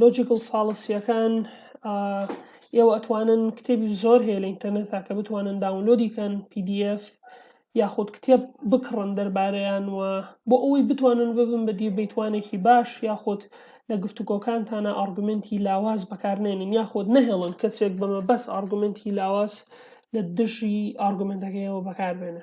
لۆجیکل فاڵسیەکان ئێوە ئەتوانن کتێبی زۆر هەیە لە ئینتەرنێتا کە بتوانن داونلۆدی کەن PDF یاخود کتێب بکڕن دەربارەیان و بۆ ئەوەی بتوانن ببن بە دیبیتوانێکی باش یاخود لە گفتوگۆکانتانە ئارگومنتی لاواز بەکارنێنن یاخود نەهێڵن کەسێک بەمە بەس ئارگومنتی لاواز لە دژی ئارگومنتەکەیەوە بەکاربێنە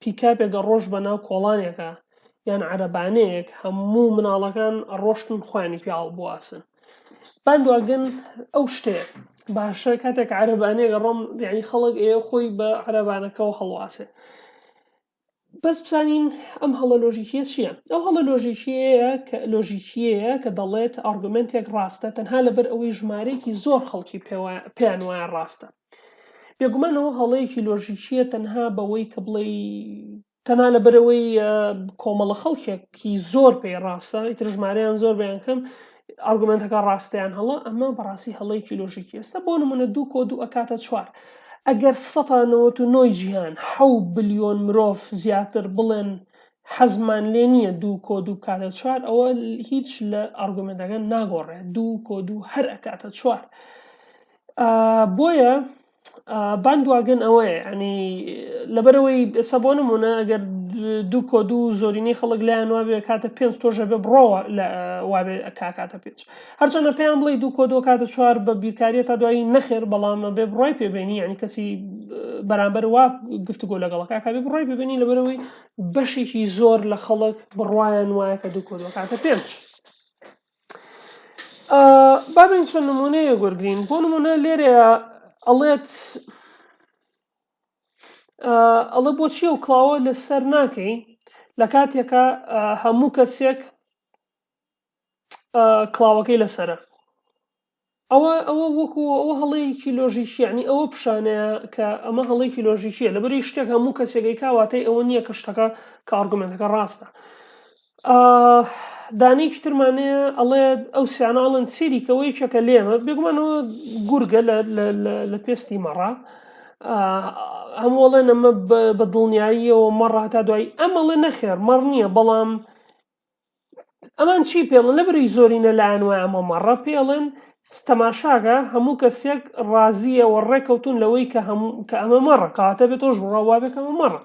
پیکابێکە ڕۆشت بە ناو کۆڵانێکا یان عەرەبانەیەک هەموو مناڵەکان ڕۆشتن خۆیانی پیاڵ بواسن باندواگەن ئەو شتەیە باشە کاتێک عەرەبانەیەکە ڕۆم یعنی خەڵک ئێ خۆی بە عەرەبانەکەەوە هەڵواسێ بەس بزانین ئەم هەڵە لۆژیکیە چییە ئەو هەڵە لۆژیکیەیە کە لۆژیکیەیە کە دەڵێت ئارگومنتێک ڕاستە تەنها لەبەر ئەوەی ژمارەیەکی زۆر خەڵکی پێیان وایە ڕاستە بێگومان ئەوە هەڵەیەکی لۆژیکیە تەنها بەوەی کە بڵێ تەنا لەبەرەوەی کۆمەڵە خەڵکێکی زۆر پێی ڕاستە ئیتر ژمارەیان زۆر بەیان کەم ئارگومنتەکە ڕاستیان هەڵە ئەمە بەڕاستی هەڵەیەکی لۆژیکی ئێستا بۆ نمونە دوو کۆ دوو ئەکاتە چوار ئەگەر سەتانەوەت و نۆی جیهان حەو بلیۆن مرۆڤ زیاتر بڵێن حەزمان لێ نییە دوو کۆ دوو بکاتە چوار ئەوە هیچ لە ئارگومنتەکە ناگۆڕێت دوو کۆ دوو هەر ئەکاتە چوار. بۆیە باندواگن ئەوەیە ئەنی لەبەرەوەی ئێستا بۆ نمونە ئەگەر دوو کۆ دوو زۆرینەی خەڵک لایەن وابێ کاتە پێنج تۆژە بێ بڕۆوە لە وابێ کاکاتە پێنج هەرچەنە پێیان بڵی دوو کۆ دوو کاتە چوار بە بیرکاریە تا دوایی نەخێر بەڵام بێ بڕای پێبێنی ینی کەسی بەرامبەر وا گفتگۆ لەگەڵ کاکبی بڕای ببینی لەبەرەوەی بەشێکی زۆر لە خەڵک بڕواان وایە کە دوو کۆ دوو کاتە پێنج با بێین چەند نموونەیەک وەرگین بۆ نموونە لێرەیە ئەڵێت ئەڵە بۆچی و کڵاوە لەسەر ناکەی لە کاتێکە هەموو کەسێک کڵاوەکەی لەسرە ئەوە ئەوە وەکو ئەوە هەڵەیەکی لۆژیکی یعنی ئەوە پیشانەیە کە ئەمە هەڵەیەکی لۆژیکیە لەبەری شتێک هەموو کەسێکی کاواتەی ئەوە نییە کە شتەکە کە ئارگومنتەکە ڕاستە دانێکی ترمانەیە ئەڵێ ئەو سیاناڵن سیریکەوەی چەکە لێمە بێگومانەوە گورگە لە پێستی مەڕە هەمووڵێن ئەمە بە دڵنیاییەوە مەڕە هەتا دوایی ئەمەڵێ نەخێر مەڕ نییە بەڵام ئەمان چی پێڵن لە بری زۆرینە لایەن وای ئەمە مەڕە پێڵن تەماشاگە هەموو کەسێک ڕازیە و ڕێکەوتون لەوەی کە هەموو کە ئەمە مەڕە کاتە بێت تۆش ڕاوابێکەمە مەڕە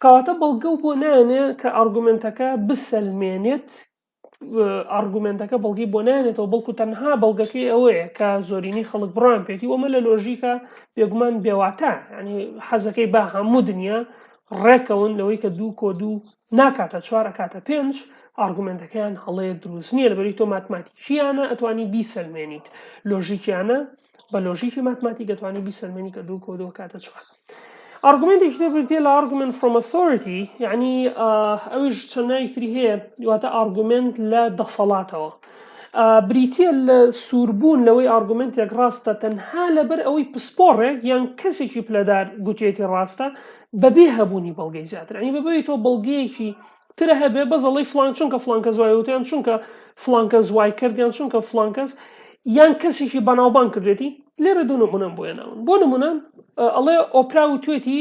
کەواتە بەڵگە و بۆ نانێ کە ئارگومنتەکە بسەلمێنێت ئارگومنتەکە بەڵگی بۆ نانێتەوە بەڵکو تەنها بەڵگەکەی ئەوەیە کە زۆرینی خەڵک بڕان پێێتی وەمە لە لۆژیکە بێگومان بێواتە ینی حەزەکەی بە هەموو دنیا ڕێککەون لەوەی کە دوو کۆ دوو ناکاتە چوار ئەکاتە پێنج ئارگومنتەکەیان هەڵەیە دروست نییە لەبەری تۆ ماتماتیکیانە ئەتوانی بیسەلمێنیت لۆژیکیانە بە لۆژیکی ماتماتی گەتوانی بیسەلمێنی کە دوو کۆ دوو کاتە چوار ئارگومنتێکی تر بردیە لە ئارگومنت فرۆم ئۆثۆریتی یعنی ئەویش چەند ناویتری هەیە دواتە ئارگومنت لە دەسەڵاتەوە بریتییە لە سووربوون لەوەی ئارگومێنتێک ڕاستە تەنها لەبەر ئەوەی پسپۆڕێک یان کەسێکی پلەدار گوتوویەتی ڕاستە بەبێ هەبوونی بەڵگەی زیاتر یانی بەبێ ئەوەی تۆ بەڵگەیەکی تر هەبێ بەس ئەڵێی فڵان چونکە فڵان کەس وای وت یان چونکە فڵان کەس وای کرد یان چونکە فڵان کەس یان کەسێکی بەناوبانگ کردوێتی لێرە دوو نمونەم بۆ هێناون بۆ نمونە ئەڵێ ئۆپرا وتوێتی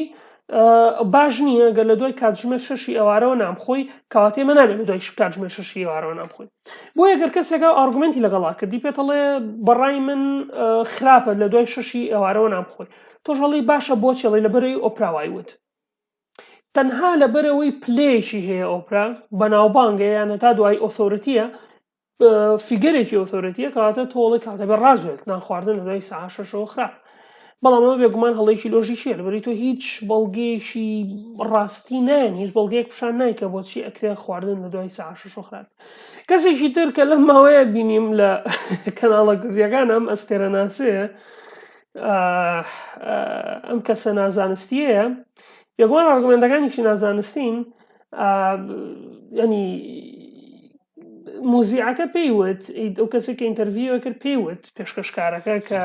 باش نییە گەر لە دوای کاتژمێر شەشی ئێوارەوە نامخۆی کەواتە ئێمە نابێت لە دوای کاتژمێر شەشی ئێوارەوە نامخۆی بۆیە گەر کەسێکا ئارگومنتی لەگەڵا کردی پێتەڵێ بەڕای من خراپە لە دوای شەشی ئێوارەوە نامخۆی تۆش هەڵی باشە بۆ چێڵی لەبەرەی ئۆپراوای وت تەنها لەبەرەوەی پلەیەکی هەیە ئۆپرا بەناوبانگە یانە تا دوای ئۆثۆرەتیە فیگەرێکی ئۆتۆرەتیە کەواتە تۆڵێک کاتەبێ ڕازێت نانخواردن لە دوای سعا شەشەوە خراپ بەڵام ئەوە بێگومان هەڵێکی لۆژیکیە لەبەری تۆ هیچ بەڵگەیەکی ڕاستی نایەن هیچ بەڵگەیەک پیشان نایکە بۆچی ئەکرێ خواردن لە دوای سعاشە شۆخرات کەسێکی تر کە لەم ماوەیە بینیم لە کەناڵە گردیەکان ئەم ئەستێرە ناسەیە ئەم کەسە نازانستیەیە بێگومان ئارگومنتەکانیشی نازانستین ینی موزیعەکە پێی وت ئەو کەسێک کە ئینتەرڤیوە کرد پێی وت پێشکەشکارەکە کە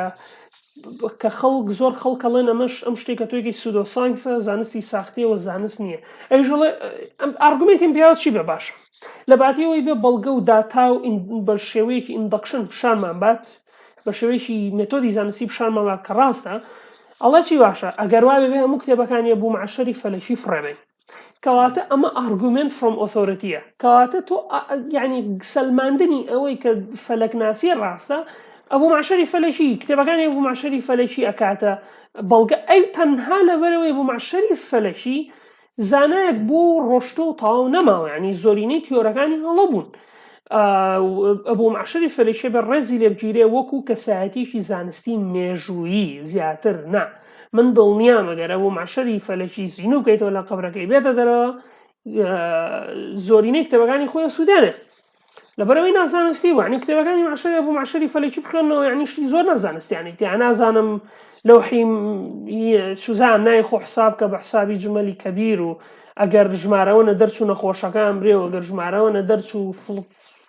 کە خەڵک زۆر خەڵکەڵێن ئەمەش ئەم شتێکە تۆێکی سوودۆ سانکسە زانستی ساختیەوە زانست نییە ئەوژڵێ ئەم ئارگومنتیم پیاوە چی بە باشە لە باتیەوەی بێ بەڵگە و داتا و بە شێوەیەکی ئیندەکشن پیشانمان بات بە شێوەیەکی مێتۆدی زانستی پیشانمان بات کە ڕاستە ئەڵە چی باشە ئەگەر وابێ بێ هەموو کتێبەکانی بوو معشری فەلەکی فڕێبین کەواتە ئەمە ئارگومێنت فڕۆم ئۆثۆرتیە کەواتە تۆ یعنی سەلماندنی ئەوەی کە فەلەکناسی ڕاستە ئەبوو معشری فەلەکی کتێبەکانی ئەبوو معشری فەلەکی ئەکاتە بەڵگە ئەی تەنها لەبەرەوەی بوو معشری فەلەکی زانایەک بۆ ڕۆشتۆ و تەواو نەماوە ینی زۆرینەی تیۆرەکانی هەڵە بوون ئەبوو معشری فەلەکی بە ڕێزی لێبگیرێ وەکو کەسایەتیکی زانستی مێژوویی زیاتر نا. من دڵنیام ئەگەر ئەبوو مەحشەری فەلەکی زینوو بکەیتەوە لە قەبرەکەی بێتە دەرەوە زۆرینەی کتێبەکانی خۆی سوودێنێت لەبەرەوەی نازانستی وانی کتێبەکانی مەحشەری ئەبوو مەحشەری فەلەکی بخوێنەوە یعنی شتی زۆر نازانستیانی تیا نازانم لەوحی سوزان نای خۆ حساب کە بە حسابی جمەلی کەبیر و ئەگەر ژمارەوە نە دەرچوو نەخۆشەکان برێ و ئەگەر ژمارەوە نە دەرچوو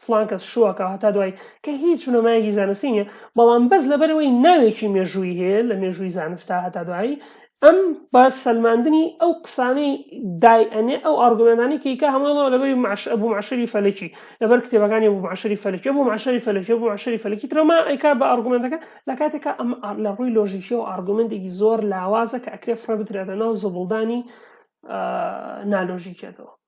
فڵان کەس شووەکە هەتا دوایی کە هیچ بنەمایەکی زانستی نییە بەڵام بەس لەبەرەوەی ناوێکی مێژووی هەیە لە مێژووی زانستا هەتا دوایی ئەم بە سەلماندنی ئەو قسانەی دای ئەنێ ئەو ئارگومێنانی کەیکە هەمووڵەوە لەبەری معش ئەبوو معشری فەلەکی لەبەر کتێبەکانی بوو معشری فەلەکی بوو معشری فەلەکی بوو معشری فەلەکی ترەما ئەیکا بە ئارگومنتەکە لە کاتێکا ئەم لە ڕووی لۆژیکی و ئارگومنتێکی زۆر لاوازە کە ئەکرێ فڕە بدرێتە ناو زبڵدانی نالۆژیکێتەوە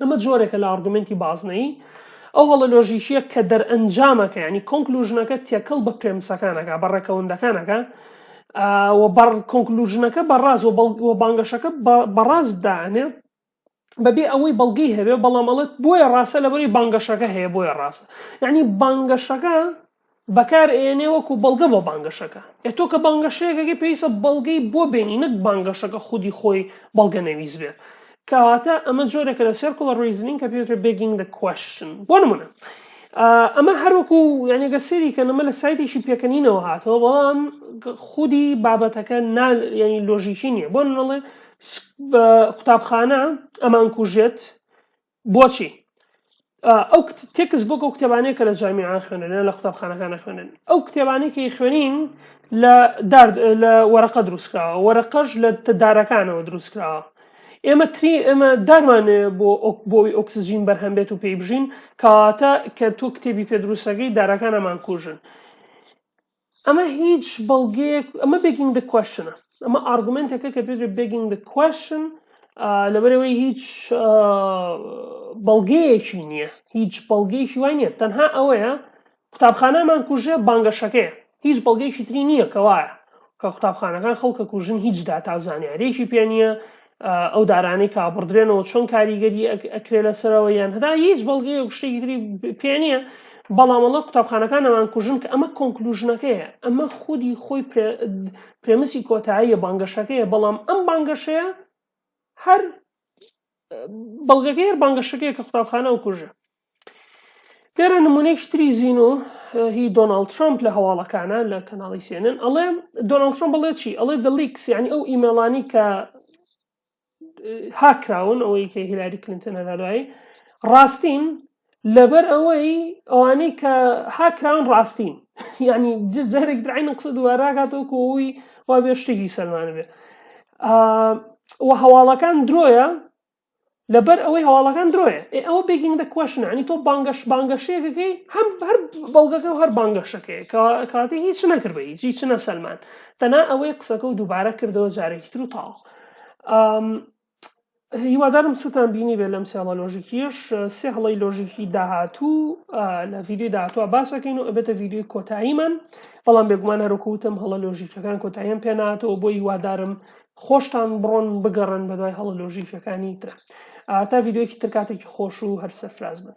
ئەمە جۆرێکە لە ئارگومنتی بازنەیی ئەو هەڵە لۆژیکیە کە دەرئەنجامەکە ینی کۆنکلوژنەکە تێکەڵ بە پرێمسەکانەکە بە ڕێکەوەندەکانەکە و بەڕ کۆنکلوژنەکە بەڕاز و بانگەشەکە بەڕاست دانێ بەبێ ئەوەی بەڵگەی هەبێ بەڵام ئەڵێت بۆیە ڕاستە لەبەری بانگەشەکە هەیە بۆیە ڕاستە یعنی بانگەشەکە بەکار ئەیەنێ وەکو بەڵگە بۆ بانگەشەکە ئێ تۆ کە بانگەشەیەکەکەی پێویستە بەڵگەی بۆ بێنی نەک بانگەشەکە خودی خۆی بەڵگە نەویست بێت کەواتە ئەمە جۆرێکە لە سێرکڵە ڕیزنین کە پێوترێ بێگینگ دە کوشن بۆ نمونە ئەمە هەروەکو یانێگە سێری کە نەمە لە سایتێکی پێکەنینەوە هاتەوە بەڵام خودی بابەتەکە ینی لۆژیکی نییە بۆ نڵێ قوتابخانە ئەمان کوژێت بۆچی؟ ئەو تێکس بۆک ئەو کتێبانەیە کە لە جامیان خوێنن لە قوتابخانەکانە خوێنن ئەو کتێبانەی کە خوێنین لە لە وەرەقە دروستکراوە وەرەقەش لە دارەکانەوە دروستکراوە ئێمە تری ئێمە دارمانێ بۆ بۆی ئۆکسسیجین بەرهەم بێت و پێی بژین کەواتە کە تۆ کتێبی پێ دروستەکەی دارەکانەمان کوژن ئەمە هیچ بەڵگەیەک ئەمە بێگینگ دە کوشنە ئەمە ئارگومنتێکە کە پێ بێگینگ دە کوشن لەبەرەوەی هیچ آ، بەڵگەیەکی نییە هیچ بەڵگەیەکی وای نییە تەنها ئەوەیە قوتابخانەمان کوژێ بانگەشەکەیە هیچ بەڵگەیەکی تری نییە کەوایە کە قوتابخانەکان خەڵکە کوژن هیچ داتا و زانیارێکی پێ نییە ئەو دارانەی کە ئابڕدرێنەوە چۆن کاریگەری ئەکرێ لەسەرەوە یان هەدا هیچ بەڵگەیە و شتێکی تری پێ نییە بەڵامەڵە قوتابخانەکان نەمان کوژن کە ئەمە کۆنکلوژنەکەیە ئەمە خودی خۆی پرێمسی کۆتاییە بانگەشەکەیە بەڵام ئەم بانگەشەیە هەر بەڵگەکە هەر بانگەشەکەیە کە قوتابخانە و کوژە لێرە نمونەیەکی تری زینو هی دۆناڵد ترامپ لە هەواڵەکانە لە کەناڵی سێنن ئەڵێ دۆناڵد ترامپ بڵێ چی ئەڵێ دە لیکس یعنی ئەو ئیمێڵانی کە هاکراون ئەوەی کە هیلاری کلینتن هەدا دوایی ڕاستین لەبەر ئەوەی ئەوانەی کە هاکراون ڕاستین یعنی جارێک درعین قسە دوواراکاتەوەکو ئەوی وا بێ شتێکی سەلمانە بێ و هەواڵەکان درۆیە لەبەر ئەوەی هەواڵەکان درۆیە ئێ ئەوە بێگینگ دە کوشن عنی تۆ بانگەش بانگەشەیەکەکەی هەم هەر بەڵگەکە و هەر بانگەشەکەی کاتی هیچ نەکرد بە هیچی چنە سەلمان تەنا ئەوەی قسەکە و دووبارە کردەوە جارێکی تر و تاڵ هیوادارم سووتان بینی بێت لەم سێڵە لۆژیکیش سێ هەڵی لۆژیکی داهاتوو لە ویددیو داهاتوە باسەکەین و ئەبێتە ویددیوی کۆتاییمان بەڵام بێگومان هەروکوتم هەڵە لۆژیکەکان کۆتاییان پێناتەوە بۆ هیوادارم خۆشتان بڕۆن بگەڕێن بەدوای هەڵە لۆژیکەکانی ترا تا ڤیدیۆیەکی تر کاتێکی خۆش و هەر سەرفراز بن.